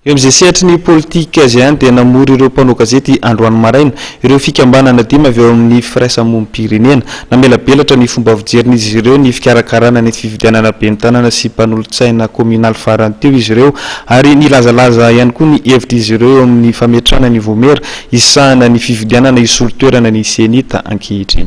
Eo amin'izay sehatry ny politika izay ihany dia namory ireo mpanao gazety androany maraina ireo fikambanana dimy avy ao amin'ny firaisamonim-pirenena. Namelabelatra ny fomba fijerin'izy ireo ny fikarakarana ny fifidianana ben'ny tanana sy mpanolotsaina kaominaly farany teo izy ireo ary nilazalaza ihany koa ny hevitr'izy ireo eo amin'ny fametrahana ny vomera hisahana ny fifidianana hisolo toerana ny CENI-ta ankehitriny.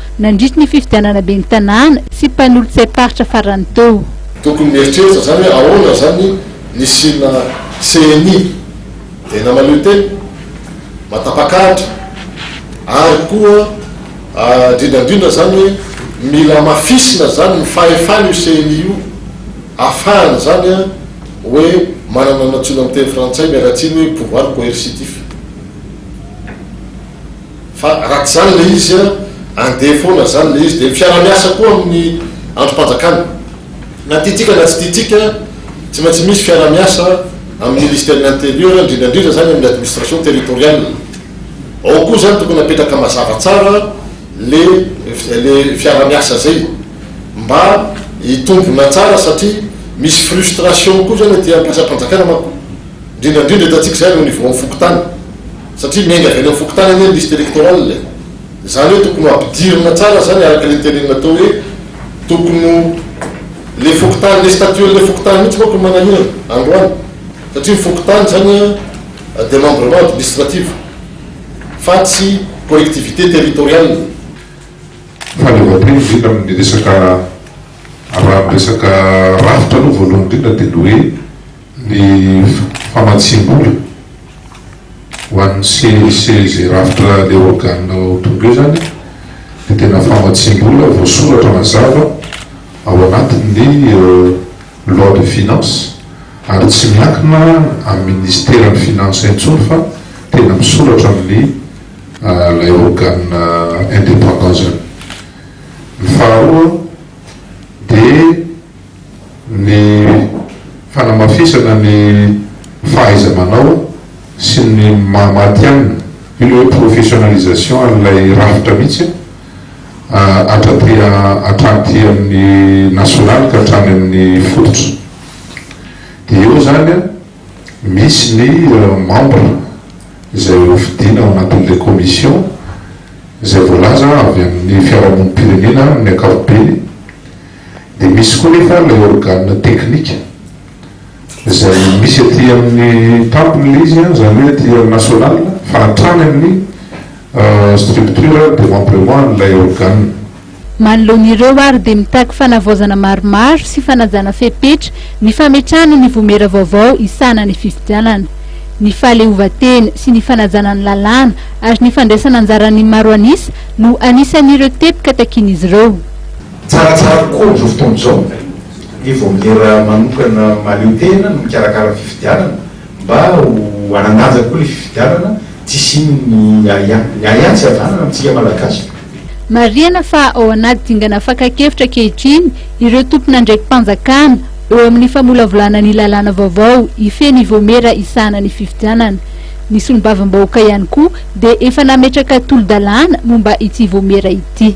nandritry ny fifidianana ben'ny tanàna sy mpanolotsaim-paritra farany teo. Tokony mieritreritra zany hoe ahoana zany nisiana ceni tena maleo tena matapak'adra ary koa indrindrandrindra zany hoe mila amafisina zany ny fahefany io ceni io afahany zany a hoe manana nantsoina amin'ny teny frantsay miala tsiny hoe pouvoir coercitif. Fa raha tsy zany le izy andeha foana zany le izy de fiara miasa koa aminy andro panjakana na tiatsika na tsy tiatsika tsy maintsy misy fiara miasa aminy ministère ny intérieur indrindra indrindra zany aminy administration territoriale ao koa zany tokony apetraka mazava tsara le le fiara miasa zay mba hitombona tsara satria misy frustration koa zany aty ampiasapanjakana manko indrindra indrindra etatsika zany au niveau fokontany. Satria miainga avy any amin'ny fokontany anie ny liste electorale e! Izany hoe tokony ho ampidirina tsara izany araka ilay teneninao teo hoe tokony ho ilay fokontany, ilay statut an'ilay fokontany mihitsy manko no manahirana androany satria ny fokontany izany a demembrement administrative fa tsy collectivité territoriale. Fa ilay voatery indrindra amin'ny resaka, raha amin'ny resaka rafitra aloha voalohany indrindra dia ny hoe, Ny famatsiam-bola ho an'ny CLC izay rafitra ilay organe ho tonga eo izany dia tena famatsiam-bola voasoratra mazava ao anatin'ny loi de finance ary tsy miankina amin'ny ministeran'ny finances intsony fa tena misoratra amin'ny ilay organe indépendant izany. Ny faharoa dia. ny fanamafisana ny fahaiza-manao sy ny maha matihanina, io ilay hoe professionnalisation an'ilay rafitra mihitsy hatraty hatraty amin'ny nasionaly ka hatrany amin'ny fototra. Dia eo izany an, misy ny membres izay hofidiana ao anatin'ilay commission izay voalaza avy amin'ny fiarahamonim-pirenena amin'ny ankapobeny, Dia misy koa nefa ilay organe teknika izay misy aty amin'ny Temple ilay izy, izany hoe aty amin'ny National, fa hatrany amin'ny structure demembrement an'ilay organe. Manoloana ireo ary dia mitaky fanavaozana maromaro sy fanajana fepetra ny fametrahana ny vomera vaovao hisahana ny fifidianana, ny fahaleovantena sy ny fanajana ny lalàna ary ny fandraisana anjaran'ny maro an'isa no anisan'ireo teboka takian'izy ireo. Tsaratsara kokoa amin'izao fotoana izao ny vaomiera manokana mahaleo tena no mikarakara ny fifidianana mba ho hanan-danja kokoa ilay fifidianana, tsy hisian'ny ahiahy. Ny ahiahy tsy havanana amintsika Malagasy. Marihana fa ao anaty dingana fakan-kevitra ankehitriny ireo tompon'andraiki-panjakana eo amin'ny famolavolana ny lalàna vaovao hifehy ny vaomiera hisahana ny fifidianana. Ny solombavambahoaka ihany koa dia efa nametraka tolo-dalàna momba ity vaomiera ity.